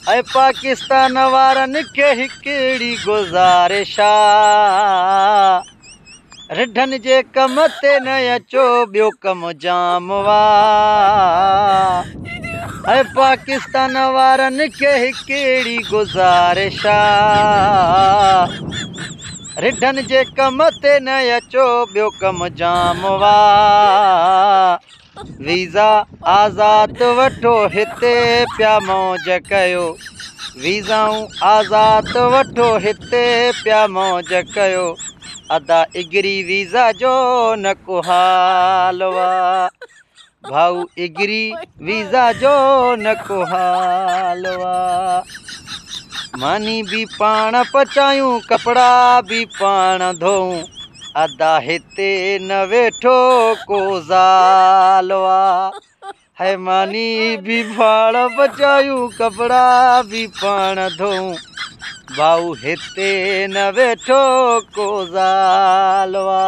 اي پاڪستان وارن کي هڪڙي گذارش آ رڍن جي ڪم تي نه اچو ٻيو ڪم جام آ اي پاڪستان وارن کي هڪڙي گذارش آ رڍن جي ڪم تي نه اچو ٻيو ڪم جام آ ويزا آزاد وٺو هتي پيا موج ڪيو ويزائون آزاد وٺو هتي پيا موج ڪيو ادا اگري ويزا جو نه ڪو حال وا ڀائو اگري ويزا جو نه ڪو حال وا ماني به پاڻ پچايون ڪپڙا به پاڻ ڌوئون ادا هتي تي نه ويٺو ڪو زال وا هي ماني بي ڀاڙ بچايو ڪپڙا بي پاڻ ڌو باو هتي نه ويٺو ڪو زال وا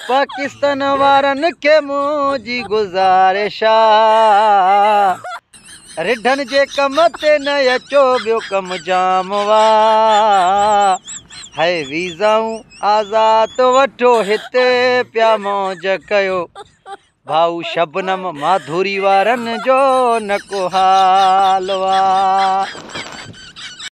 پاڪستان وارن کي مون جي گزارش آ رڍن جي ڪم تي نه اچو ٻيو ڪم جام وا هي ويزائون آزاد وٺو هتي پيا موج ڪيو ڀائو شبنم ماڌوري وارن جو نڪو حال وا